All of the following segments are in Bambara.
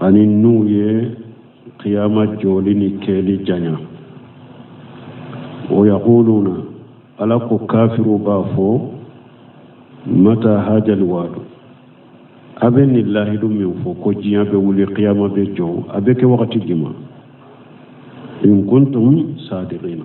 ani n'u ye kiyama jɔli ni kɛli janya wa yaquluna ala ko kafiriw b'a fɔ mata hajal wadu a bɛ nin lahidu min fɔ ko diɲɛ bɛ wuli kiyama bɛ jɔ a bɛ kɛ wagati jumɛn in kuntum sadiqina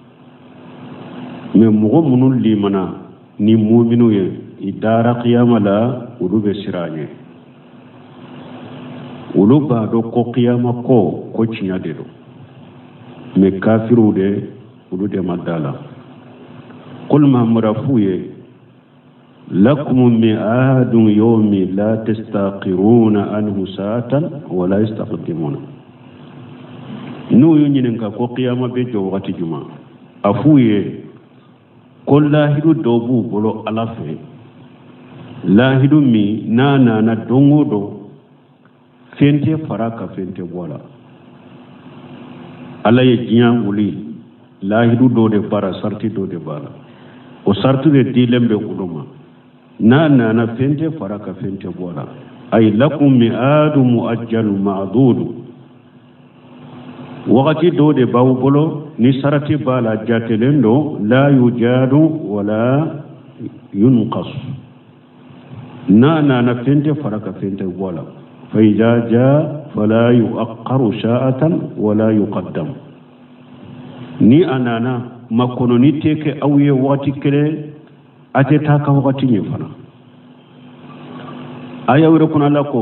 mɛ mɔgɔ minnu limana ni muminu ye i dara kiyama la olu bɛ siran a ɲɛ olu b'a dɔn ko kiyama ko ko tiɲɛ de don mɛ kafiriw de olu de ma da la qul mamadu a f'u ye lakum mi'aadu yawmi la tastaqiruuna anhu saatan wala yastaqdimuuna n'u y'u ɲininka ko kiyama bɛ jɔ wagati juma a f'u ye ko lahidu dɔ b'u bolo ala fɛ lahidu min n'a nana don o don fɛn tɛ fara a kan fɛn tɛ bɔ a la ala ye diɲɛ wuli lahidu dɔ de b'a la sarati dɔ de b'a la o sarati de dilen bɛ olu ma n'a nana fɛn tɛ fara a kan fɛn tɛ bɔ a la ay lakum mi'adu mu'ajjalu ma'dudu wagati dɔ de b'aw bolo ni sarati b'a la jatelen don la yujadu wala yunqas n'a nana fɛn tɛ fara a kan fɛn tɛ bɔ a la fa iza jaa fala yu'aqqaru saa'atan wala yuqaddam ni a nana makɔnɔni tɛ kɛ aw ye wagati kelen a tɛ taa ka wagati ɲɛ fana a y'a yira kuranɛ la ko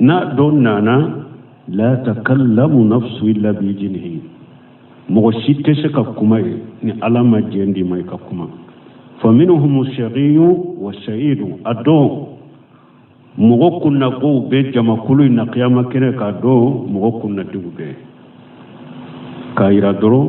n'a don nana la takallamu nafsu illa bi ijinihi mɔgɔ si tɛ se ka kuma yen ni ala ma jɛn d'i ma i ka kuma fa minhum shaqiyu wa sa'idu a don mɔgɔ kunnagow bɛ jamakulu in na kiyama kɛnɛ kan a don mɔgɔ kunnandiw bɛ k'a yira dɔrɔn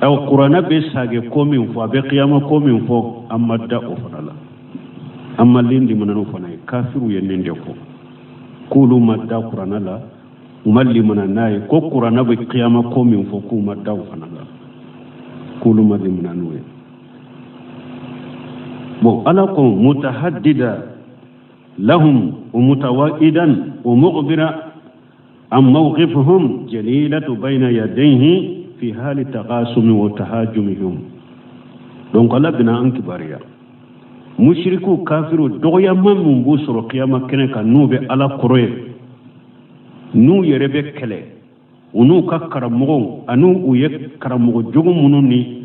ɛ kuranɛ bɛ sagi ko min fɔ a bɛ kiyama ko min fɔ an ma da o fana la an ma li limana n'o fana ye kafiriw ye nin de fɔ k'olu ma da kuranɛ la u ma limana n'a ye ko kuranɛ bɛ kiyama ko min fɔ k'u ma da o fana la k'olu ma limana n'o ye bon ala ko mutahadida lahum wa mutawa'idan wa mugbiran an mawqifuhum jalilatu bayna yadayhi fi hali taqasumi wa tahajumihim donc ala bina an kibariya mushirikiw kafiriw dɔgɔya min b'u sɔrɔ kiyama kɛnɛ kan n'u bɛ ala kɔrɔ yen n'u yɛrɛ bɛ kɛlɛ u n'u ka karamɔgɔw ani u ye karamɔgɔ jugu minnu ni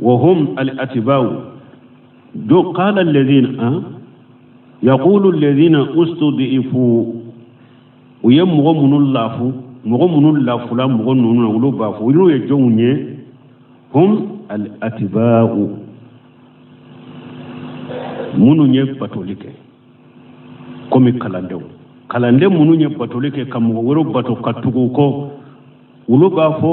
wa hum al-atiba'u do qala alladhina yaqulu alladhina ustud'ifu u ye mɔgɔ minnu lafu mɔgɔ minnu lafula mɔgɔ ninnu na olu b'a fɔ olu ye jɔnw ye hum al-atiba'u minnu ye batoli kɛ komi kalandenw minnu ye batoli kɛ ka mɔgɔ wɛrɛw bato ka tugu u kɔ olu b'a fɔ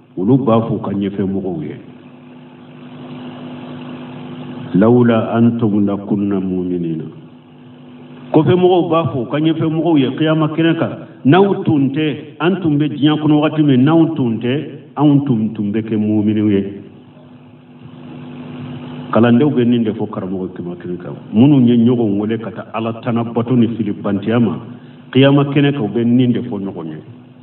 olu b'a fɔ u ka ɲɛfɛ mɔgɔw ye lawula antum lakunna muminina kɔfɛ mɔgɔw b'a fɔ u ka ɲɛfɛ mɔgɔw ye kiyama kɛnɛ kan n'aw tun tɛ an tun bɛ diɲɛ kɔnɔ wagati min n'aw tun tɛ anw tun bɛ kɛ muminiw ye kalandenw bɛ nin de fɔ karamɔgɔ kiyama kɛnɛ kan minnu ye ɲɔgɔn wele ka taa ala tana bato ni filibantiya ma kiyama kɛnɛ kan u bɛ nin de fɔ ɲɔgɔn ye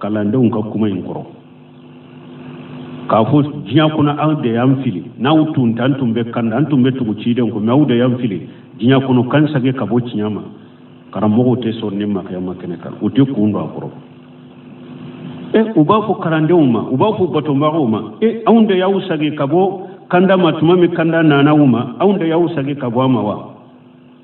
kalandenw ka kuma in kɔrɔ k'a fɔ diɲɛ kɔnɔ aw de y'an fili n'aw tun t'an tun bɛ kanda an tun bɛ tugu ciden kɔ mɛ aw de y'an fili diɲɛ kɔnɔ k'an sage ka bɔ tiɲɛ ma karamɔgɔw tɛ sɔn nin ma kiyama kɛnɛ kan u tɛ kun don a kɔrɔ e u b'a fɔ kalandenw ma u b'a fɔ batobagaw ma e anw de y'aw sage ka bɔ kanda ma tuma min kanda nana u ma anw de y'aw sage ka bɔ a ma wa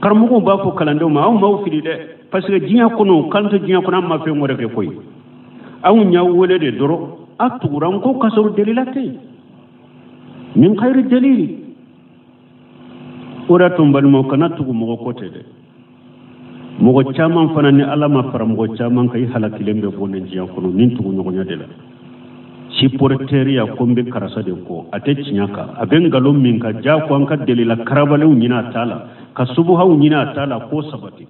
karamɔgɔw b'a fɔ kalandenw ma anw m'aw fili dɛ parce que diɲɛ kɔnɔ k'an to diɲɛ kɔnɔ an ma fɛn wɛrɛ kɛ koyi anw y'aw wele de dɔrɔn a tugura an kɔ k'a sɔrɔ delila tɛ min gayiri delili o de y'a to n balimaw kana tugu mɔgɔ kɔ ten dɛ mɔgɔ caman fana ni ala ma fara mɔgɔ caman kan i halakilen bɛ bɔ nin diɲɛ kɔnɔ nin tugu ɲɔgɔnya de la siporeteriya ko n bɛ karisa de kɔ a tɛ tiɲɛ kan a bɛ nkalon min ka ja ko an ka delila karabalenw ɲini a t'a la ka subuhaw ɲini a t'a la k'o sabati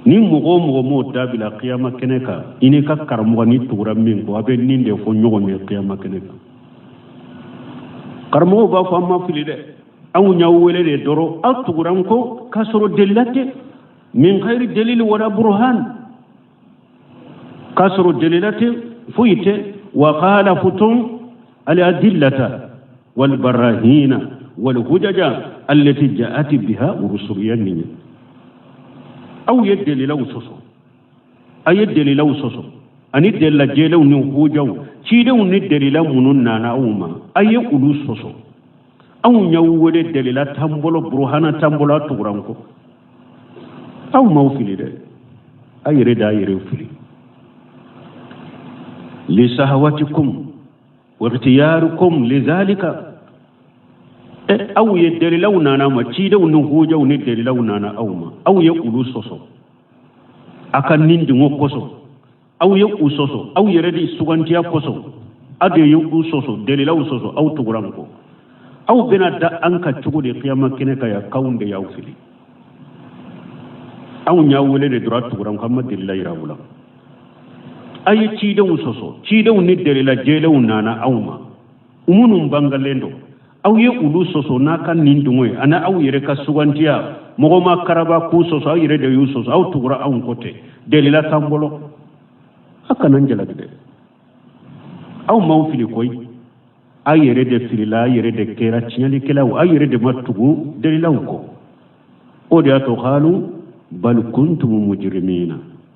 ni mɔgɔ o mɔgɔ m'o dabila kiyama kɛnɛ kan i n'i ka karamɔgɔ n'i tugura min kɔ a bɛ nin de fɔ ɲɔgɔn ye kiyama kɛnɛ kan karamɔgɔw b'a fɔ an m'aw fili dɛ anw y'aw wele de dɔrɔn aw tugura an kɔ k'a sɔrɔ delila tɛ min gayiri delili wala buruhan k'a sɔrɔ delila tɛ foyi tɛ wa kalafutum aladillata walbarahina walhujaja allati jaati biha rusuli yani aw ye delilaw sɔsɔ a ye delilaw sɔsɔ ani delila jɛlenw ni hojaw cidenw ni delila minnu nana aw ma a ye olu sɔsɔ anw y'aw wele delila tan bolo buruhana tan bolo a tugura an kɔ anw m'aw fili dɛ a yɛrɛ de y'a yɛrɛ fili lisahawatikum wakhtiyarikum lidhalika eh, aw ye dalilaw nana aw ma cidenw ni hojaw ni dalilaw nana aw ma aw ye olu sɔsɔ a ka nidungɔ kosɔn aw ye u sɔsɔ aw yɛrɛ de sugantiya kosɔn aw de ye u sɔsɔ delilaw sɔsɔ aw tugura an kɔ aw bɛn'a da an kan cogo di kiyama kɛnɛ kan yan k'anw de y'aw fili anw y'aw wele de dɔrɔn tugura an kɔ an ma delila yira aw la a ye cidenw sɔsɔ cidenw ni delila jɛlenw nana aw ma minnu bangalen don aw ye olu sɔsɔ n'aw ka ni dungɔ ye ani aw yɛrɛ ka sugantiya mɔgɔ m'aw karaba k'u sɔsɔ aw yɛrɛ de y'u sɔsɔ aw tugura anw kɔ ten delila t'an bolo aw kana an jalaki dɛ anw m'aw fili koyi aw yɛrɛ de filila aw yɛrɛ de kɛra tiɲɛlikɛlaw aw yɛrɛ de ma tugu delilaw kɔ o de y'a to qalu bal kuntum mujrimina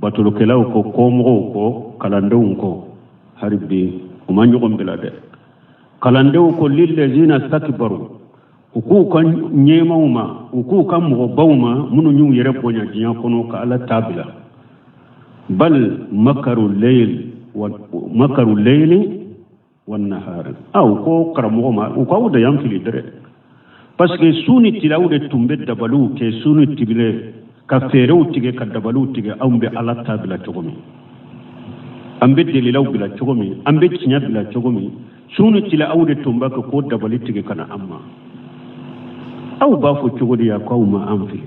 batolikɛlaw ko kɔmɔgɔw ko kalandenw ko hali bi u ma ɲɔgɔn bila dɛ kalandenw ko lillazina stakbaru u k'u ka ɲɛmaaw ma u k'u ka mɔgɔbaw ma minnu y'u yɛrɛ bonya diɲɛ kɔnɔ ka ala ta bila bal makaru leyili wannahari aw ko karamɔgɔ ma u k'aw de y'an fili dɛrɛ parce que su ni tile aw de tun bɛ dabaliw kɛ su ni tile ka feerew tigɛ ka dabaliw tigɛ anw bɛ ala ta bila cogo min an bɛ delilaw bila cogo min an bɛ tiɲɛ bila cogo min su ni tile aw de tun b'a kɛ k'o dabali tigɛ ka na an ma aw b'a fɔ cogo di yan k'aw ma an fili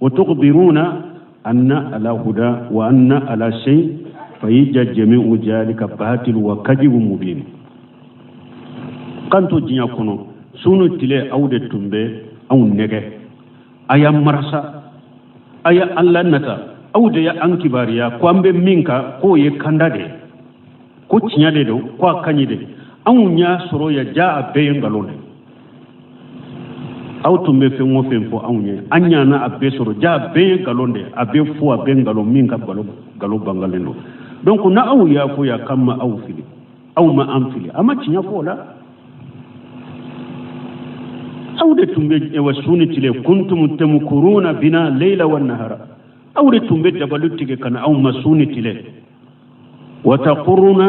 wa tukhbiruna anna ala huda wa anna ala shay fa yija jami'u jalika batil wa kadibu mubin k'an to diɲɛ kɔnɔ su ni tile aw de tun bɛ anw nɛgɛn a y'an marasa a y'an lanata aw de y'an kibaruya ko an bɛ min kan k'o ye kanda de ye ko tiɲɛ de don ko a ka ɲi de anw y'a sɔrɔ yan jaa a bɛɛ ye nkalon de aw tun bɛ fɛn o fɛn fɔ anw ye an nana a bɛɛ sɔrɔ jaa a bɛɛ ye nkalon de a bɛɛ fu a bɛɛ nkalon min ka nkalon bangalen don donc n'aw y'a fɔ yan k'an ma aw fili aw ma an fili a ma tiɲɛ fɔ o la aw de tun bɛ wa su ni tile kuntum tamkuruna bina leila wa nahara aw de tun bɛ dabali tigɛ ka na anw ma su ni tile wa taquruna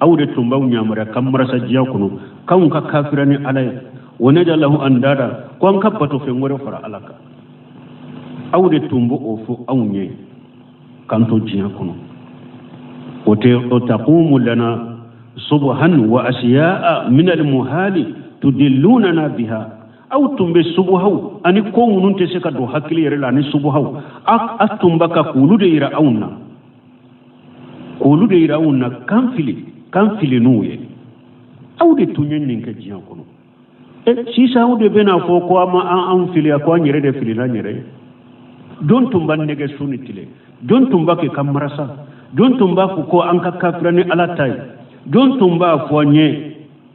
aw de tun b'anw yamaruya k'an marasa diɲɛ kɔnɔ k'anw ka kafira ni ala ye wa najalahu andada ko an ka batofɛn wɛrɛ fara ala kan aw de tun b'o o fɔ anw ye k'an to diɲɛ kɔnɔ wa taqumu lana subuhan wa asiya'a min almuhali tudillunana biha aw tun bɛ subuhaw ani ko minnu tɛ se ka don hakili yɛrɛ la ani subuhaw a tun b'a kɛ k'olu de yira anw na k'olu de yira anw na k'an fili k'an fili n'u ye aw de tun ye nin kɛ diɲɛ kɔnɔ e sisan aw de bɛna fɔ ko a ma an fili ko an yɛrɛ de filila an yɛrɛ ye jɔn tun b'an nɛgɛn su ni tile jɔn tun b'a kɛ ka marasa jɔn tun b'a fɔ ko an ka kafira ni ala ta ye jɔn tun b'a fɔ an ye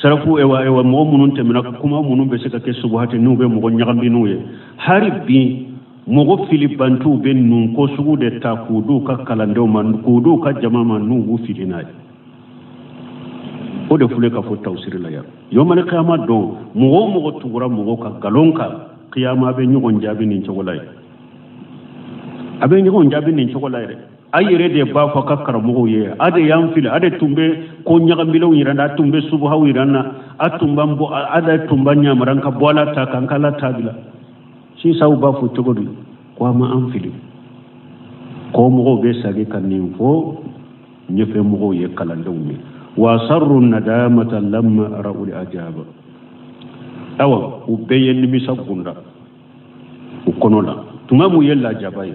sarafu ewa ewa mɔgɔ minnu tɛmɛna kuma minnu bɛ se ka kɛ subuhati n'u bɛ mɔgɔ ɲagami n'u ye hari bi mɔgɔ filibantiw bɛ nin ko sugu de ta k'u d'u ka kalandenw ma k'u d'u ka jama ma n'u b'u fili n'a ye o de filɛ ka fɔ tawusiri la yan yomali kiyama don mɔgɔ o mɔgɔ tugura mɔgɔ ka nkalon kan kiyama bɛ ɲɔgɔn jaabi nin cogo la ye a bɛ ɲɔgɔn jaabi nin cogo la yɛrɛ a yɛrɛ de b'a fɔ ka karamɔgɔw ye a de y'an fili a de tun bɛ ko ɲagamilenw yira an na a tun bɛ subuhaw yira an na a tun b'an bɔ a de tun b'an ɲamaran ka bɔ ala ta kan k'ala ta bila sisan aw b'a fɔ cogo di ko a ma an fili kɔ mɔgɔw bɛ sagi ka nin fɔ ɲɛfɛ mɔgɔw ye kalandenw ye wa sarru nadamata lamma ra'ul ajaba awa u bɛɛ ye nimisa gundo u kɔnɔ la tuma min u ye lajaba ye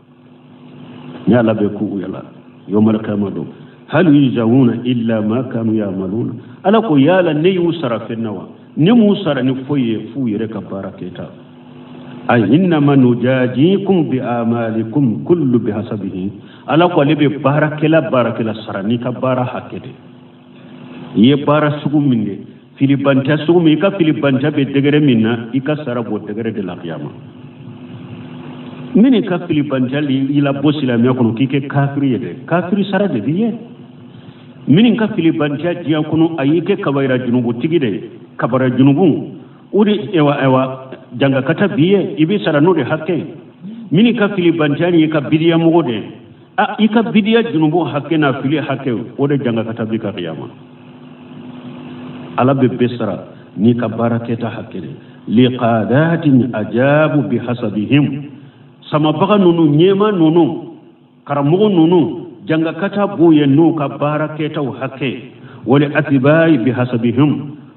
ni ala bɛ ko yala yomali kiyama don hal yujawuna illa ma kanu ya'maluna ala ko yala ne y'u sara fɛn na wa ne m'u sara ni foyi ye f'u yɛrɛ ka baara kɛta a innama nujajikum bi amalikum kullu bi hasabihi ala ko ale bɛ baarakɛla baarakɛla sara n'i ka baara hakɛ de i ye baara sugu min kɛ filibantɛ sugu min i ka filibantɛ bɛ degere min na i ka sara b'o degere de la kiyama min n'i ka filibantɛ y'i labɔ silamɛya kɔnɔ k'i kɛ kafiri ye dɛ kafiri sara de b'i ye min n'i ka filibantɛ diɲɛ kɔnɔ a y'i kɛ kabayira junubutigi de ye kabayira junubu o de ewa ewa jangakata b'i ye i bɛ sara n'o de hakɛ ye min n'i ka filibantɛ y'i kɛ bidiyamɔgɔ de ye a i ka bidiya junubu hakɛ n'a fili hakɛ o de jangakata b'i kan kiyama ala bɛ bɛɛ sara n'i ka baara kɛta hakɛ de liqadatin ajabu bihasabihim samabaga ninnu ɲɛmaa ninnu karamɔgɔ ninnu jangakata b'u ye n'u ka baara kɛtaw hakɛ wali atibayi bihasabihim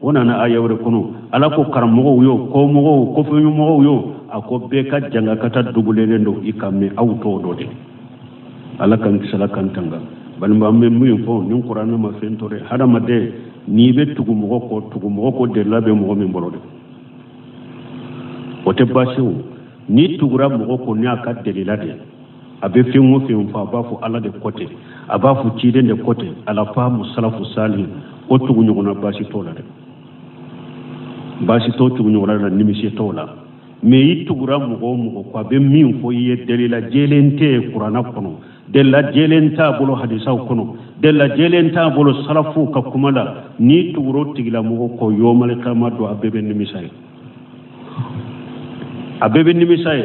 o nana aya wɛrɛ kɔnɔ ala ko karamɔgɔw yo kɔmɔgɔw kɔfɛmɔgɔw yo a ko bɛɛ ka jangakata dubulelen don nka mɛ aw t'o dɔn de ala k'an kisi ala k'an tanga balima an bɛ min fɔ nin kuranɛ ma fɛn to dɛ hadamaden n'i bɛ tugu mɔgɔ kɔ tugu mɔgɔ kɔ delila bɛ mɔgɔ min bolo dɛ o tɛ baasi o n'i tugura mɔgɔ kɔ ni a ka delila de a bɛ fɛn o fɛn fɔ a b'a fɔ ala de ko ten a b'a fɔ ciden de ko ten ala faamu salafu salihin o tugu ɲɔgɔnna baasi t'o la dɛ baasi t'o tugu ɲɔgɔnna la nimisi t'o la mɛ i tugura mɔgɔ o mɔgɔ kɔ a bɛ min fɔ i ye dalila jɛlen tɛ kurana kɔnɔ dalila jɛlen t'a bolo hadisaw kɔnɔ dalila jɛlen t'a bolo salafuw ka kuma la n'i tugura o tigilamɔgɔ kɔ yɔmalikiyama don a bɛɛ bɛ nimisa ye a bɛɛ bɛ nimisa ye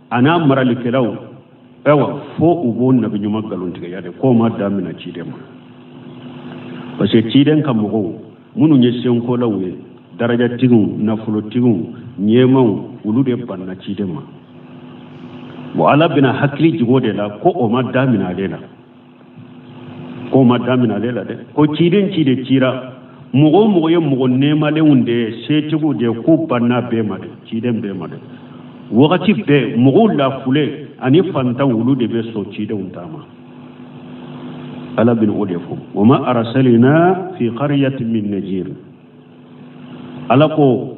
a n'a maralikɛlaw ayiwa fo u b'o nabi ɲuman nkalontigɛya de k'o ma daminɛ ciden ma parce que ciden ka mɔgɔw minnu ye senkolaw ye darajatigiw nafolotigiw ɲɛmaaw olu de banna ciden ma bon ala bɛna hakili jigi o de la ko o ma daminɛ ale la k'o ma daminɛ ale la dɛ ko ciden ciden cira mɔgɔ o mɔgɔ ye mɔgɔ nɛɛmalenw de ye setigiw de ye k'u banna bɛɛ ma dɛ ciden bɛɛ ma dɛ wagati bɛɛ mɔgɔ lafulenw ani fantanw olu de bɛ sɔn cidenw ta ma ala bɛna o de fɔ wa ma arasalina fi qariyatin min najir ala ko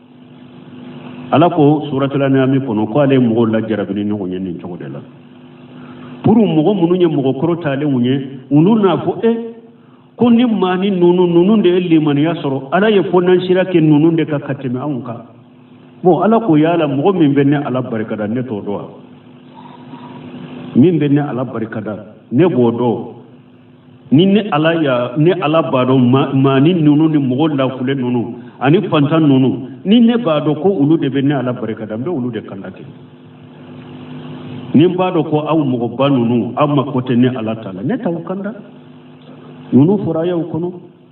ala ko suratul anami kɔnɔ ko ala ye mɔgɔw lajarabi ni ɲɔgɔn ye nin cogo de la pour mɔgɔ minnu ye mɔgɔ kɔrɔtalenw ye olu n'a fɔ e ko nin maanin ninnu ninnu de ye limaniya sɔrɔ ala ye fondansira kɛ ninnu de kan ka tɛmɛ anw kan bon ala ko yala mɔgɔ min bɛ ne ala barikada ne t'o dɔn wa min bɛ ne ala barikada ne b'o dɔn ni ne ala y'a ne ala b'a dɔn maanin ninnu ni mɔgɔ lafulen ninnu ani fantan ninnu ni ne b'a dɔn ko olu de bɛ ne ala barika da n bɛ olu de kanda kɛ ni n b'a dɔn ko aw mɔgɔba ninnu aw mako tɛ ne ala ta la ne t'aw kanda ninnu fɔra ayaw kɔnɔ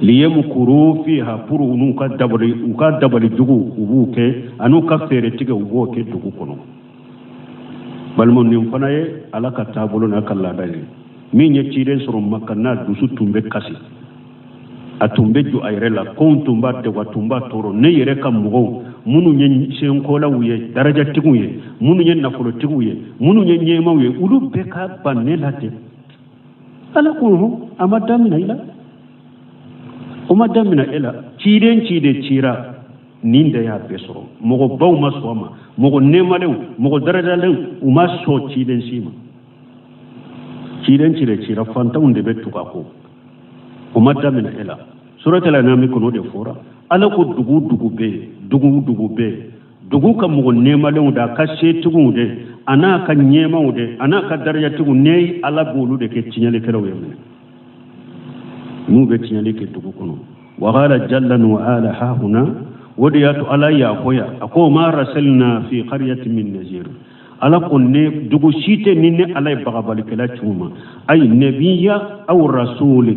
liyamukuru fiha puru u n'u ka dabali u ka dabali jugu u b'u kɛ an'u ka feere tigɛ u b'o kɛ dugu kɔnɔ balima nin fana ye ala ka taabolo n'a ka laada ye min ye ciden sɔrɔ makan a dusu tun bɛ kasi a tun bɛ jɔ a yɛrɛ la kow tun b'a degun a tun b'a tɔɔrɔ ne yɛrɛ ka mɔgɔw minnu ye senkolaw ye darajatigiw ye minnu ye nafolotigiw ye minnu ye ɲɛmaaw ye olu bɛɛ ka ban ne la ten ala ko a ma damina i la o ma damina e la ciden ciden cira nin de y'a bɛɛ sɔrɔ mɔgɔbaw ma sɔn a ma mɔgɔ nɛɛmalenw mɔgɔ darajalenw u ma sɔn ciden si ma ciden ciden cira fantanw de bɛ tugu a kɔ o ma damina e la suratul anami kɔnɔ de fɔra ala ko dugu dugu bɛ yen dugu dugu bɛ yen dugu ka mɔgɔ nɛɛmalenw de a ka setigiw de an'a ka ɲɛmaw de an'a ka darajatigiw ne ala b'olu de kɛ tiɲɛlikɛlaw ye minnu bɛ tiɲɛli kɛ dugu kɔnɔ wa qala jalla wa ala ha huna o de y'a to ala y'a fɔ yan a ko ma rasalina fi qariyati min nazir ala ko ne dugu si tɛ ni ne ala ye bagabalikɛla ci u ma ayi nabiya aw rasuli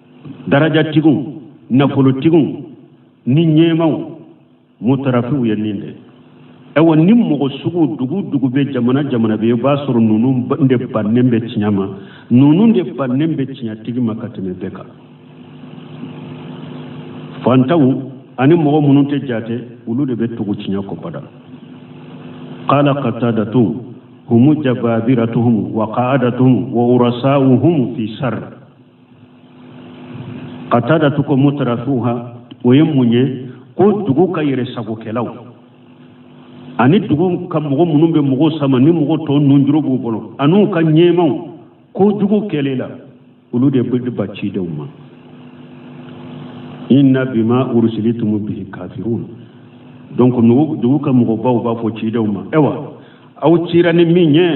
darajatigiw nafolotigiw ni ɲɛmaw mutarafiw ye nin de ye ɛwa nin mɔgɔ sugu dugu dugu bɛɛ jamana jamana bɛɛ i b'a sɔrɔ ninnu de bannen bɛ tiɲɛ ma ninnu de bannen bɛ tiɲɛtigi ma ka tɛmɛ bɛɛ kan fantaw ani mɔgɔ minnu tɛ jate olu de bɛ tugu tiɲɛ kɔ bada qala qatadatu humu jababiratuhum wa qa'adatuhum wa ru'asa'uhum fi sharr qatadatu ko mutarafuha o ye mun ye ko dugu ka yɛrɛ sagokɛlaw ani dugu ka mɔgɔ minnu bɛ mɔgɔw sama ni mɔgɔ tɔ nunjuru b'u bolo an'u ka ɲɛmaw kojugu kɛli la olu de bɛ ban cidenw ma inna bima ursilitum bihi kafirun donc dugu ka mɔgɔbaw b'a fɔ cidenw ma ewa aw cira ni min ye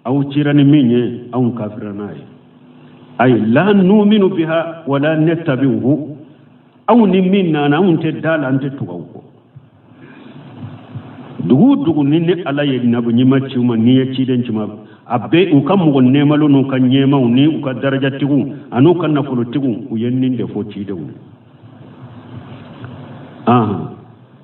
aw cira ni min ye anw kafira n'a ye ayi la numinu biha wala natabi'uhu aw ni min nana anw tɛ da la an tɛ tug'aw kɔ dugu o dugu ni ne ala ye nabiɲuman ci u ma ni n ye ciden ci u ma a bɛɛ u ka mɔgɔ nɛɛmalenw n'u ka ɲɛmaw ni u ka darajatigiw an'u ka nafolotigiw u ye nin de fɔ cidenw ye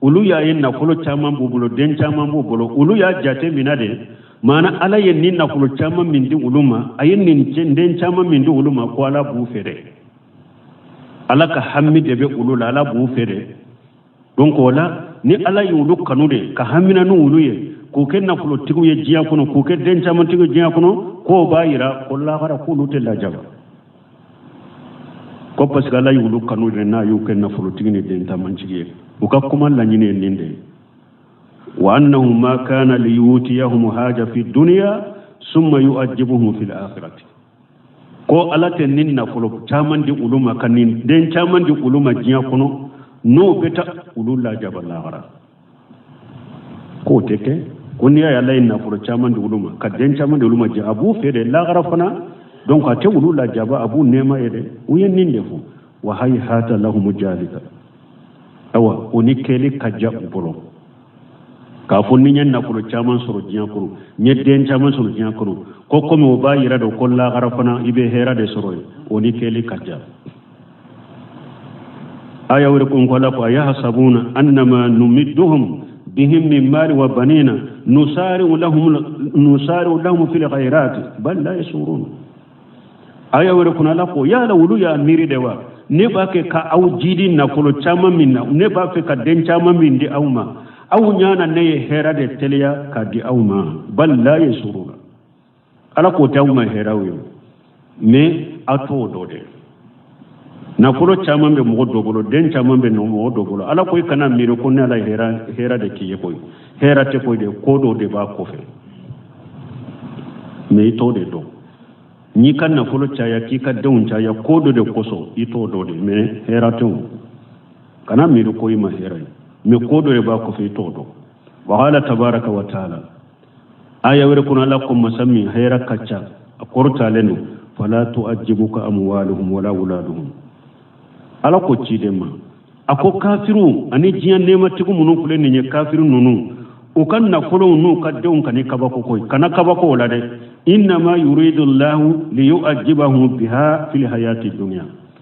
olu y'a ye nafolo caman b'u bolo den caman b'u bolo olu y'a jate mina de maana ala ye nin nafolo caman min di olu ma a ye nin den caman min di olu ma ko ala b'u fɛ dɛ ala ka hami de bɛ olu la ala b'u fɛ dɛ donc o la ni ala ye olu kanu de ka hamina ni olu ye k'u kɛ nafolotigiw ye diɲɛ kɔnɔ k'u kɛ den camantigiw diɲɛ kɔnɔ k'o b'a yira ko lahara k'olu tɛ lajaba ko parce que ala y'olu kanu de n'a y'u kɛ nafolotigi ni den camantigi ye u ka kuma laɲini ye nin de ye wa annahu ma kana liyutiyahum haja fi dunya summa yu'ajibuhum fil akhirati ko ala tɛ nin nafolo caman di olu ma ka nin den caman di olu ma diɲɛ kɔnɔ n'o bɛ taa olu lajaba lahara k'o tɛ kɛ ko n'i y'a ye ala ye nafolo caman di olu ma ka den caman di olu ma diɲɛ a b'u fɛ de lahara fana donc a tɛ olu lajaba a b'u nɛɛma yen de u ye nin de fɔ wa hayhata lahumu jalika awa o ni kɛli ka jan u bolo k'a fɔ ni n ye nafolo caman sɔrɔ diɲɛ kɔnɔ n ye den caman sɔrɔ diɲɛ kɔnɔ ko komi o b'a yira de ko lahara fana i bɛ hɛrɛ de sɔrɔ yen o ni kɛli ka jan aya wɛrɛ kɔnɔ ala ko ayahsabuna annama numidduhum bihim min mali wa banina nusari'u lahum fil khairati bal la yashurun aya wɛrɛ kɔnɔ ala ko yala olu y'a miiri de wa ne b'a kɛ ka aw jiidi nafolo caman min na ne b'a fɛ ka den caman min di aw ma aw ɲa na ne ye hɛrɛ de teliya ka di aw ma bal la yashurun ala k'o tɛ aw ma hɛrɛw ye mɛ a t'o dɔn dɛ nafolo caman bɛ mɔgɔ dɔ bolo den caman bɛ mɔgɔ dɔ bolo ala ko i kana miiri ko ne ala hɛrɛ de k'i ye koyi hɛrɛ tɛ koyi dɛ ko dɔ de b'a kɔfɛ mɛ i t'o de dɔn n'i ka nafolo caya k'i ka denw caya ko dɔ de kosɔn i t'o dɔn dɛ mɛ hɛrɛ tɛ o kana miiri ko i ma hɛrɛ ye mɛ ko dɔ de b'a kɔfɛ i t'o dɔn wa ala tabaraka wa taala aya wɛrɛ kɔnɔ ala ko masa min hɛrɛ ka ca a kɔrɔtalen don fala tu'ajibuka amwaluhum wala awladuhum ala ko ciden ma a ko kafiriw ani diɲɛ nɛɛmatigiw minnu filɛ nin ye kafiri ninnu u ka nafolow n'u ka denw kan'i kabako koyi kana kabako o la dɛ innama yuridu llahu liyu'ajibahum biha fil hayati dunya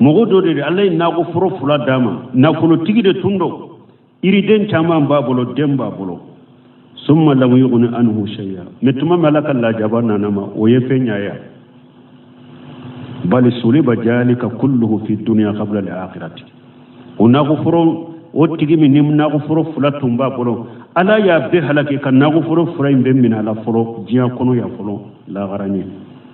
mɔgɔ dɔ de ala ye nakɔ foro fila d'a ma nafolotigi de tun don yiriden caman b'a bolo den b'a bolo summa lam yughni anhu shay'a mɛ tuma min ala ka lajaba nan'a ma o ye fɛn ɲa ya bal suliba jalika kulluhu fi dunya qabla al-akhirati o nakɔ foro o tigi min ni nakɔ foro fila tun b'a bolo ala y'a bɛɛ halaki ka nakɔ foro fila in bɛɛ minɛ a la fɔlɔ diɲɛ kɔnɔ yan fɔlɔ lahara ɲɛ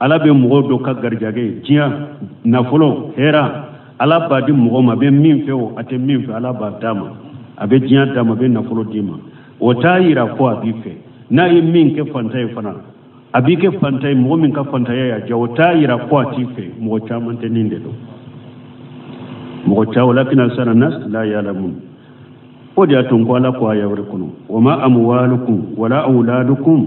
ala bɛ mɔgɔ dɔ ka garijɛgɛ diɲɛ nafolo hɛra ala b'a di mɔgɔ ma a bɛ min fɛ o a tɛ min fɛ ala b'a d'a ma a bɛ diɲɛ d'a ma a bɛ nafolo d'i ma o t'a yira ko a b'i fɛ n'a ye min kɛ fantan ye fana a b'i kɛ fantan ye mɔgɔ min ka fantanya y'a diya o t'a yira ko a t'i fɛ mɔgɔ caman tɛ nin de dɔn mɔgɔ caman lakinna aksara nas la yalamun o de y'a to n ko ala ko aya wɛrɛ kɔnɔ wa ma amwalukum wala awladukum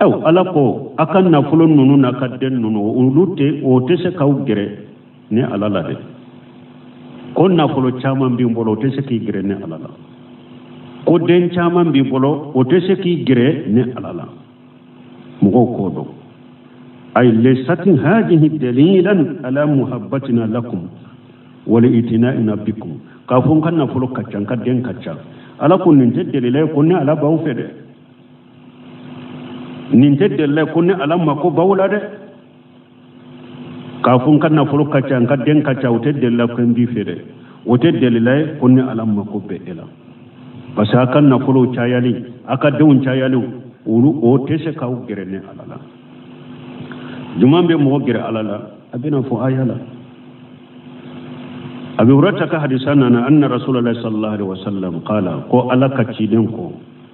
aw ala ko aw ka nafolo ninnu n'aw ka den ninnu olu tɛ o tɛ se k'aw gɛrɛ ne ala la dɛ ko nafolo caman b'i bolo o tɛ se k'i gɛrɛ ne ala la ko den caman b'i bolo o tɛ se k'i gɛrɛ ne ala la mɔgɔw k'o dɔn ay laysat hadhihi dalilan ala muhabbatina lakum wala itina'ina bikum k'a fɔ n ka nafolo ka ca n ka den ka ca ala ko nin tɛ dalila ye ko ne ala b'aw fɛ dɛ nin tɛ dalilu ye ko ne ala mako b'aw la dɛ k'a fɔ n ka nafolo ka ca n ka den ka ca o tɛ dalilu ye ko n b'i fɛ dɛ o tɛ dalilu ye ko ne ala mako bɛ e la parce que a ka nafolow cayali a ka denw cayaliw olu o tɛ se k'aw gɛrɛ ne ala la jumɛn bɛ mɔgɔ gɛrɛ ala la a bɛna fɔ aya la abi hurayrata ka hadisa nana anna rasulullah sallallahu alaihi wasallam qala ko ala ka ciden ko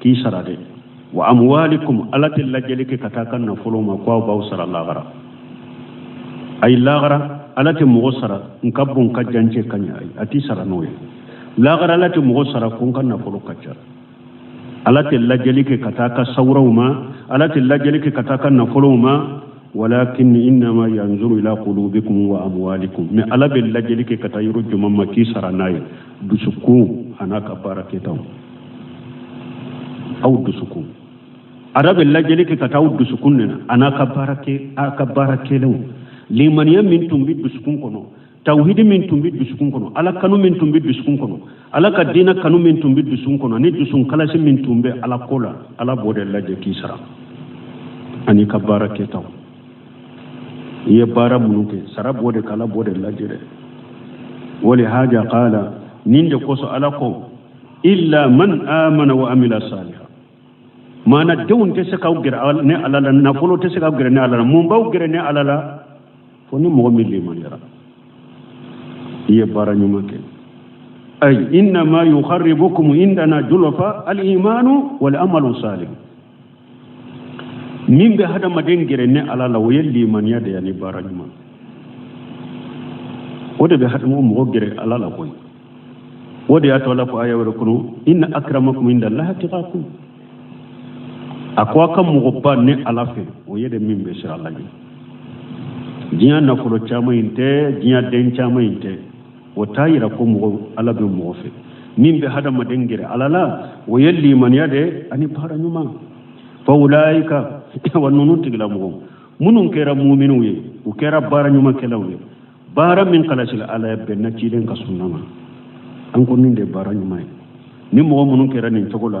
k'i sara dɛ wa amwalikum ala tɛ lajɛli kɛ ka taa a ka nafolo ma ko a b'aw sara lahara ayi lahara ala tɛ mɔgɔ sara n ka bon ka jan n cɛ ka ɲi ayi a t'i sara n'o ye lahara ala tɛ mɔgɔ sara ko n ka nafolo ka ca ala tɛ lajɛli kɛ ka taa a ka sawuraw ma ala tɛ lajɛli kɛ ka taa a ka nafolow ma walakin innama yanzuru ila qulubikum wa aamalikum mais ala bɛ lajɛli kɛ ka taa yɔrɔ jumɛn ma k'i sara n'a ye dusukun an'a ka baara kɛtaw aw dusukun ala bɛ lajɛli kɛ ka taa aw dusukun de la an'a ka baara kɛ a ka baara kɛlenw limaniya min tun bɛ dusukun kɔnɔ tawhidi min tun bɛ dusukun kɔnɔ ala kanu min tun bɛ dusukun kɔnɔ ala ka diinɛ kanu min tun bɛ dusukun kɔnɔ ni dusukun kalasi min tun bɛ ala ko la ala b'o de lajɛ k'i sara an'i ka baara kɛtaw i ye baara minnu kɛ sara b'o de kan ala b'o de lajɛ dɛ wa lihaza qala nin de kosɔn ala ko illa man amana wa amila saliha maana denw tɛ se k'aw gɛrɛ ne ala la nafolo tɛ se k'aw gɛrɛ ne ala la mun b'aw gɛrɛ ne ala la fo ni mɔgɔ min limaniyara i ye baara ɲuman kɛ ay innama yuqarribukum indana zulfa al imanu wal amalu salih min bɛ hadamaden gɛrɛ ne ala la o ye limaniya de ye ani baara ɲuman o de bɛ hadamaden mɔgɔ gɛrɛ ala la koyi o de y'a to ala ko aya wɛrɛ kɔnɔ inna akramakum indallahi atqakum a ko a ka mɔgɔba ne ala fɛ o ye de min bɛ siran ala ɲɛ diɲɛ nafolo caman in tɛ diɲɛ den caman in tɛ o t'a yira ko mɔgɔ ala bɛ mɔgɔ fɛ min bɛ hadamaden gɛrɛ ala la o ye limaniya de ani baara ɲuman fa ulaika wa ninnu tigilamɔgɔ minnu kɛra muminiw ye u kɛra baara ɲumankɛlaw ye baara min kalasila ala ye bɛnna ciden ka sunna ma an ko nin de baara ɲuman ye ni mɔgɔ minnu kɛra nin cogo la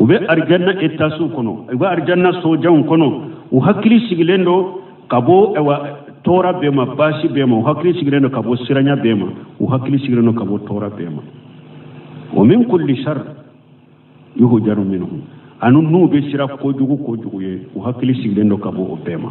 u bɛ arijanna etaziw kɔnɔ u bɛ arijanna sojanw kɔnɔ u hakili sigilen don ka bɔ tɔɔrɔ bɛɛ ma baasi bɛɛ ma u hakili sigilen don ka bɔ siranya bɛɛ ma u hakili sigilen don ka bɔ tɔɔrɔ bɛɛ ma wa min kulli sharri yuhzaru minhu ani n'u bɛ siran kojugu kojugu ɲɛ u hakili sigilen don ka bɔ o bɛɛ ma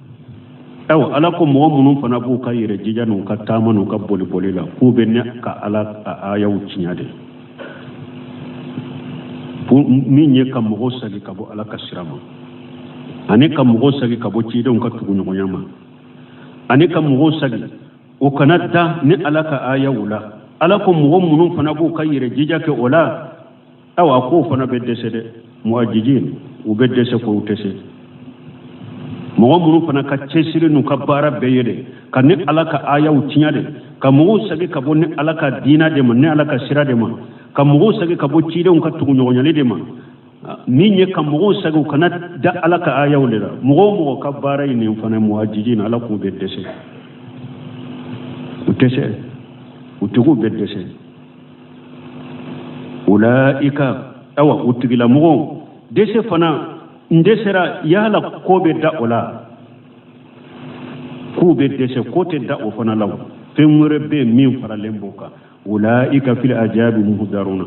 awa ala ko mɔgɔ minnu fana b'u ka yɛrɛ jija n'u ka taama n'u ka boliboli la k'u bɛ ne ka ala ka ayaw tiɲɛ de min ye ka mɔgɔw sagi ka bɔ ala ka sira ma ani ka mɔgɔw sagi ka bɔ cidenw ka tuguɲɔgɔnya ma ani ka mɔgɔw sagi u kana da ni ala ka ayaw la ala ko mɔgɔ minnu fana b'u ka yɛrɛ jija kɛ o la awa ko u fana bɛ dɛsɛ dɛ muajizin u bɛ dɛsɛ ko u tɛ se mɔgɔ minnu fana ka cɛsiri n'u ka baara bɛɛ ye de ka ni ala ka ayaw tiɲɛ de ka mɔgɔw sagi ka bɔ ni ala ka diina de ma ni ala ka sira de ma ka mɔgɔw sagi ka bɔ cidenw ka tuguɲɔgɔnyali de ma min ye ka mɔgɔw sagi u kana da ala ka ayaw de la mɔgɔ o mɔgɔ ka baara ye nin fana muajizin ala k'u bɛ dɛsɛ u tɛ se o tigiw bɛ dɛsɛ ulayika awa o tigilamɔgɔ dɛsɛ fana n'u dɛsɛra yala ko bɛ dan o la k'u bɛ dɛsɛ ko tɛ dan o fana la fɛn wɛrɛ bɛ yen min faralen b'o kan ulayika fil azabi muhdaruna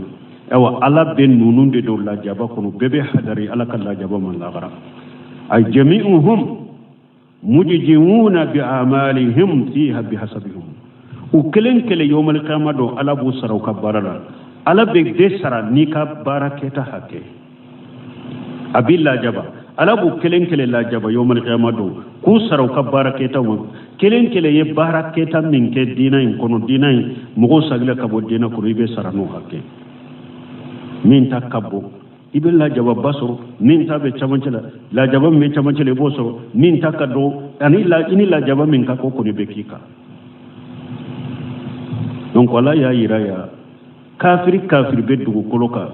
awa ala bɛ ninnu de don lajaba kɔnɔ bɛɛ bɛ hadari ala ka lajaba ma lagara ay jamiuhum mujziyuna bi amalihim fiha bihasabihim u kelen kelen yawmal qiyamah don ala b'u sara u ka baara la ala bɛ bɛɛ sara n'i ka baara kɛta hakɛ a b'i lajaba ala b'u kelen kelen lajaba yawmal qiyamah don k'u sara u ka baara kɛtaw ma kelen kelen ye baara kɛta min kɛ diina in kɔnɔ diina in mɔgɔw sagila ka bɔ diina kɔnɔ i bɛ sara n'o hakɛ min ta ka bon i bɛ lajababa sɔrɔ min ta bɛ camancɛ la lajaba min bɛ camancɛ la i b'o sɔrɔ min ta ka dɔgɔ ani i ni lajaba min ka kan o kɔni bɛ k'i kan donc ala y'a yira yan kafiri kafiri bɛ dugukolo kan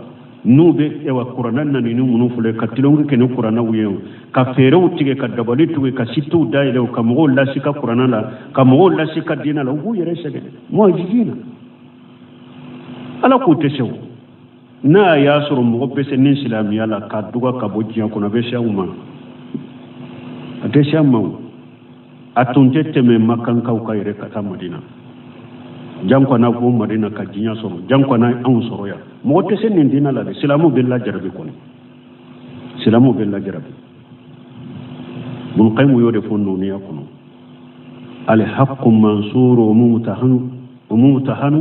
n'u bɛ ewa kurana nani ni minnu filɛ ka tulon kɛ ni kuranaw ye ka feerew tigɛ ka dabali tigɛ ka sitew dayɛlɛ ka mɔgɔw lasiga kurana la ka mɔgɔw lasiga diina la u b'u yɛrɛ sɛgɛn muajizina ala k'u tɛ se o n'a y'a sɔrɔ mɔgɔ bɛ se ni silamɛya la k'a duga ka bɔ diɲɛ kɔnɔ a bɛ se an ma a tɛ se an ma a tun tɛ tɛmɛ makankaw kan yɛrɛ ka taa madina janko ka na ko madina ka diɲɛ sɔrɔ janko ka na anw sɔrɔ yan mɔgɔ tɛ se nin dina la dɛ silamɛw bɛ lajarabi kɔni silamɛw bɛ lajarabi bun qayimu y'o de fɔ nuniya kɔnɔ alhaqqu mansuru wa mumtahanu wa mumtahanu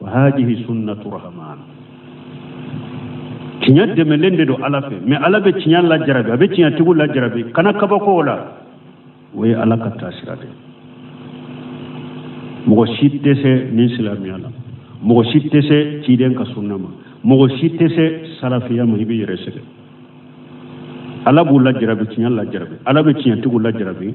wa hadihi sunnatu rahman tiɲɛ dɛmɛlen de don ala fɛ mɛ ala bɛ tiɲɛ lajarabi a bɛ tiɲɛ tigiw lajarabi kana kabako o la o ye ala ka taasira de mɔgɔ si tɛ se nin silamɛya la mɔgɔ si tɛ se ciden ka sunna ma mɔgɔ si tɛ se salafiya ma i b'i yɛrɛ sɛgɛn ala b'u lajarabi tiɲɛ lajarabi ala bɛ tiɲɛtigiw lajarabi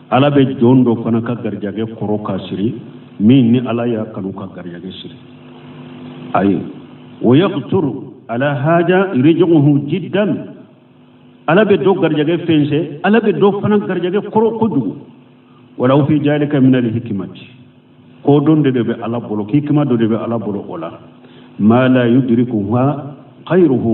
ala bɛ jɔn dɔ fana ka garijɛgɛ kɔrɔ k'a siri min ni ala y'a kanu ka garijɛgɛ siri ayi wa yaqturu ala haja rijiquhu jiddan ala bɛ dɔ garijɛgɛ fɛnsɛ ala bɛ dɔ fana garijɛgɛ kɔrɔ kojugu walahu fi jalika min alhikmati kodɔn de bɛ ala bolo hikima dɔ de bɛ ala bolo o la ma la yudrikuha khayruhu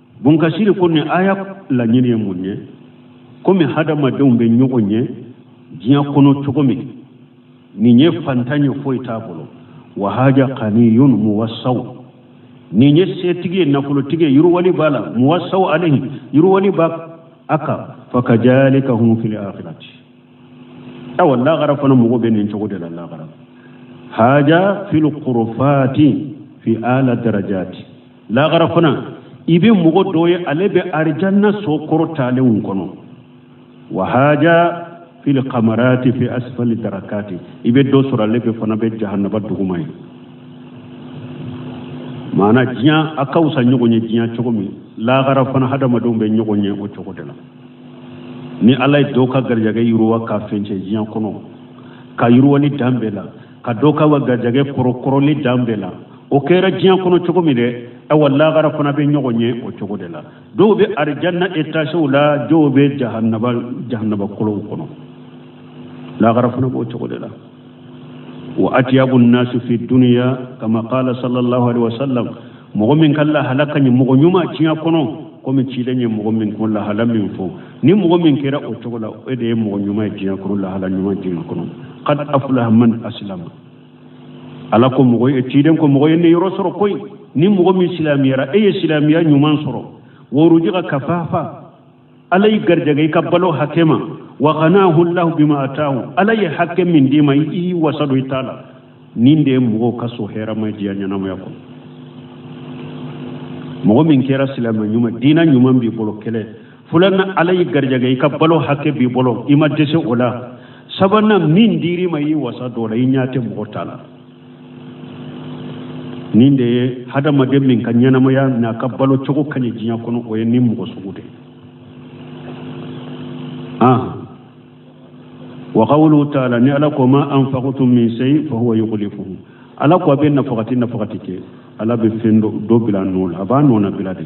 bun kasiri ko nin aya laɲini ye mun ye komi hadamadenw bɛ ɲɔgɔn ɲɛ diɲɛ kɔnɔ cogo min nin ye fantan ye foyi t'a bolo wahaja kaniyun muwasaw nin ye setigi ye nafolotigi ye yiriwali b'a la muwasaw alayhi yiriwali b'a kan fakajalika hum fil akhirati awa lagara fana mɔgɔ bɛ nin cogo de la lagara haja fil qurufati fi ala darajati lahara fana i bɛ mɔgɔ dɔ ye ale bɛ arijanna so kɔrɔtalenw kɔnɔ wahaja fili kamarati fi asifali darakati i bɛ dɔ sɔrɔ ale bɛ fana bɛ jahanaba duguma yen maana diɲɛ a ka wusa ɲɔgɔn ye diɲɛ cogo min lahara fana hadamadenw bɛ ɲɔgɔn ɲɛ o cogo de la ni ala ye dɔ ka garijɛgɛ yiriwa k'a fɛnsɛ diɲɛ kɔnɔ ka yiriwali dan bɛɛ la ka dɔ ka wa garijɛgɛ kɔrɔ kɔrɔli dan bɛɛ la o kɛra diɲɛ kɔnɔ cogo min dɛ awa lagara fana bɛ ɲɔgɔn ɲɛ o cogo de la dɔw bɛ arijanna etasew la dɔw bɛ jahanaba kɔlɔnw kɔnɔ lagara fana b'o cogo de la wa atiyabu nasu fi duniya kama qala sallallahu alaihi wasallam mɔgɔ min ka lahala ka ɲi mɔgɔ ɲuman diɲɛ kɔnɔ komi ciden ye mɔgɔ min ko lahala min fɔ ni mɔgɔ min kɛra o cogo la e de ye mɔgɔ ɲuman ye diɲɛ kɔnɔ lahala ɲuman diɲɛ kɔnɔ kad aflaha man asilama ala ko mɔgɔ ye ciden ko mɔgɔ ye ɲɛ yɔrɔ sɔrɔ koyi ni mɔgɔ min silamɛyara e ye silamɛya ɲuman sɔrɔ wa rujika kafafa ala y'i garijɛgɛ i ka balo hakɛ ma wa qanahu llahu bima atahu ala ye hakɛ min d'i ma i wasa don i ta la nin de ye mɔgɔw ka so hɛrɛ ma diɲɛ ɲɛnamaya kɔnɔ mɔgɔ min kɛra silamɛ ɲuman diina ɲuman b'i bolo kɛlɛ fulanan ala y'i garijɛgɛ i ka balo hakɛ b'i bolo i ma dɛsɛ o la sabanan min dir'i ma i y'i wasa don o la i ɲɛ tɛ mɔgɔ ta la nin de ye hadamaden min ka ɲɛnamaya n'a ka balo cogo ka ɲi diɲɛ kɔnɔ o ye nin mɔgɔ sugu de ah wa qawluhu taala ni ala ko ma anfaqtum min shay fa huwa yukhlifuhu ala ko a bɛ nafagati nafagati kɛ ala bɛ fɛn dɔ bila a nɔ la a b'a nɔnabila de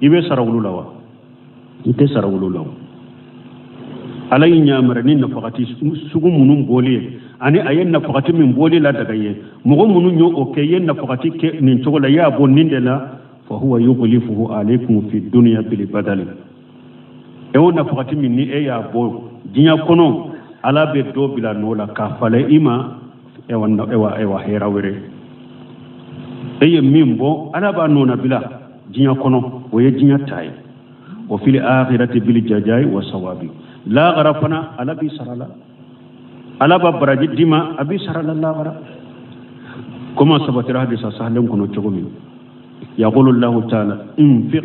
i bɛ sara olu la wa i tɛ sara olu la ala y'i ɲamari ni nafagati sugu minnu bɔli ye ani a ye nafagati min bɔli ladaga i ye mɔgɔ minnu y'o o kɛ i ye nafagati kɛ nin cogo la i y'a bɔ nin de la fa huwa yukhlifuhu alaykum fi dunya bil badal e o nafagati min ni e y'a bɔ diɲɛ kɔnɔ ala bɛ dɔ bila nɔ la k'a falen i ma ayiwa hɛrɛ wɛrɛ e ye min bɔ ala b'a nɔnabila diɲɛ kɔnɔ o ye diɲɛ ta ye wa fil akhirati bil jazai wa sawabi lahara fana ala b'i sara a la ala b'a baraji d'i ma a b'i sara a la lahara komi a sabatira hadisa sahalen kɔnɔ cogo min yaqulu allahu ta'ala anfiq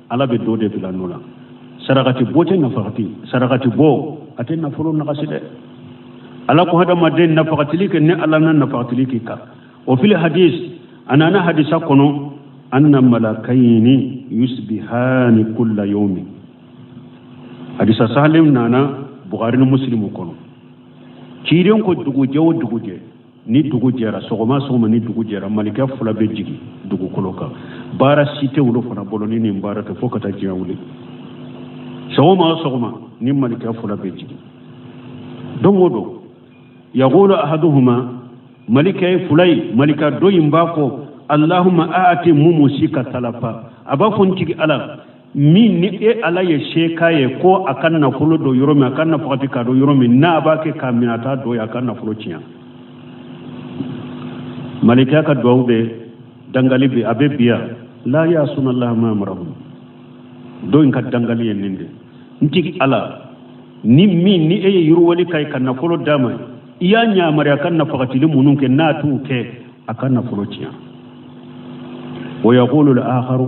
ala bɛ dɔ de bila nɔ la sarakati bɔ tɛ nafagati sarakati bɔ a tɛ nafolo nagasi dɛ ala ko hadamaden nafagatili kɛ ne ala na nafagatili k'i kan wa fil hadis a nana hadisa kɔnɔ anna malakayini yusbihani kulla yawmin hadisa sahalen nana bukari ni musilimu kɔnɔ ciiden ko dugujɛ o dugujɛ ni dugu jɛra sɔgɔma sɔgɔma ni dugu jɛra malika fula bɛ jigin dugukolo kan baara si tɛ olu fana bolo ni nin baara tɛ fo ka taa diɲɛ wuli sɔgɔma o sɔgɔma nin malika fula bɛ jigin don o don yaqulu ahaduhuma malika fula in malika dɔ in b'a fɔ ko allahuma aati mumsika talafa a b'a fɔ n tigi ala min ni e ala ye se k'a ye ko a ka nafolo don yɔrɔ min a ka nafagati k'a don yɔrɔ min n'a b'a kɛ k'a minɛ a t'a don yen a ka nafolo tiɲɛ malika in ka duwawu bɛ dangali bɛ a bɛ biya la yasuna llaha ma amarahum dɔ in ka dangali ye nin de n tigi ala ni min ni e ye yiriwali k'a ye ka nafolo d'a ma i y'a ɲamari a ka nafagatili minnu kɛ n'a t'u kɛ a ka nafolo tiɲɛ wa yaqulu l akharu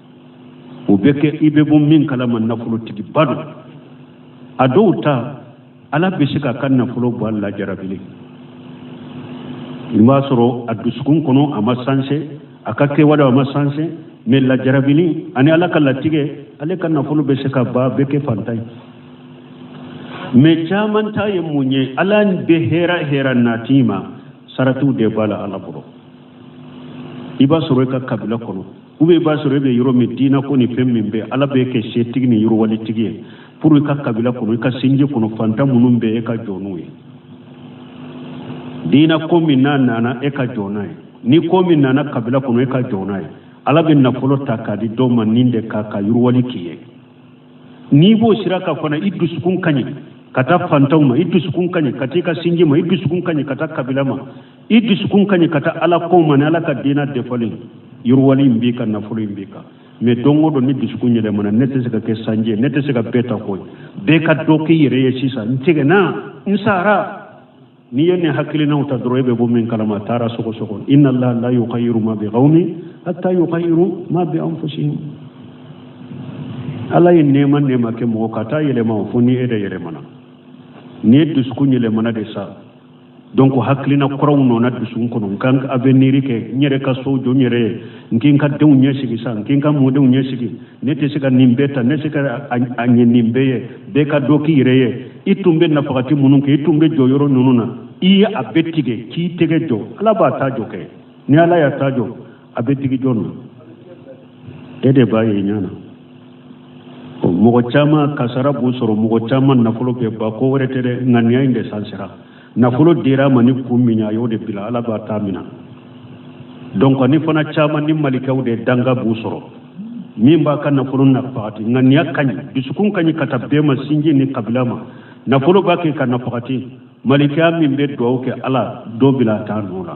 o bɛ kɛ i bɛ bɔ min kalama nafolotigiba don a dɔw ta ala bɛ se k'a ka nafolo bɔ a lajarabili i b'a sɔrɔ a dusukun kɔnɔ a ma sanse a ka kɛwale a ma sanse mɛ lajarabili ani ala ka latigɛ ale ka nafolo bɛ se ka ban a bɛ kɛ fantan ye mɛ caman ta ye mun ye ala bɛ hɛrɛ hɛrɛ nat'i ma saratiw de b'a la ala bolo i b'a sɔrɔ i ka kabila kɔnɔ u bɛɛ b'a sɔrɔ e bɛ yɔrɔ min diina ko ni fɛn min bɛ ala b'i kɛ setigi ni yiriwalitigi ye pour i ka kabila kɔnɔ i ka sinji kɔnɔ fantan minnu bɛ e ka jɔ n'u ye diina ko min nana e ka jɔ n'a ye ni ko min nana kabila kɔnɔ e ka jɔ n'a ye ala bɛ nafolo ta k'a di dɔw ma nin de ka yiriwali k'i ye n'i b'o sira kan fana i dusukun ka ɲi ka taa fantanw ma i dusukun ka ɲi ka taa i ka sinji ma i dusukun ka ɲi ka taa kabila ma i dusukun ka ɲi ka taa ala kow ma ni ala ka diina dafali yiriwali in b'i kan nafolo in b'i kan mais don o don ni dusukun yɛlɛmana ne tɛ se ka kɛ sanji ye ne tɛ se ka bɛɛ ta koyi bɛɛ ka dɔ k'i yɛrɛ ye sisan n tigɛna n sara n'i ye nin hakilinaw ta dɔrɔn e bɛ bɔ min kalama a taara sogo sogo inna allaha la yughayyiru ma bi qawmin hatta yughayyiru ma bi anfusihim ala ye nɛɛma nɛɛma kɛ mɔgɔ kan a t'a yɛlɛma fo ni e de yɛlɛmana n'i dusukun yɛlɛmana de sa donc hakilina kuraw donna dusukun kɔnɔ n ka aveniri kɛ n yɛrɛ ka so jɔ n yɛrɛ ye n ka n ka denw ɲɛsigi sa n ka n ka mɔdenw ɲɛsigi ne tɛ se ka nin bɛɛ ta ne se ka a ɲɛ nin bɛɛ ye bɛɛ ka dɔ k'i yɛrɛ ye i tun bɛ nafagati minnu kɛ i tun bɛ jɔ yɔrɔ ninnu na i ye a bɛɛ tigɛ k'i tɛgɛ jɔ ala b'a ta jɔ kɛ ni ala y'a ta jɔ a bɛ digi jɔn na e de b'a ye i ɲɛ na mɔgɔ caman kasara b'u sɔrɔ mɔgɔ caman nafolo bɛ ban ko wɛrɛ tɛ dɛ ŋaniya in de sansira nafolo dira a ma ni kun min ye a y'o de bila ala b'a ta mina donc ni fana caman ni malikɛw de danga b'u sɔrɔ min b'a ka nafolo nafagati ŋaniya ka ɲi dusukun ka ɲi ka taa bɛɛ ma sinji ni kabila ma nafolo b'a kɛ ka nafagati malika min bɛ duwawu kɛ ala dɔ bila a ta nɔ la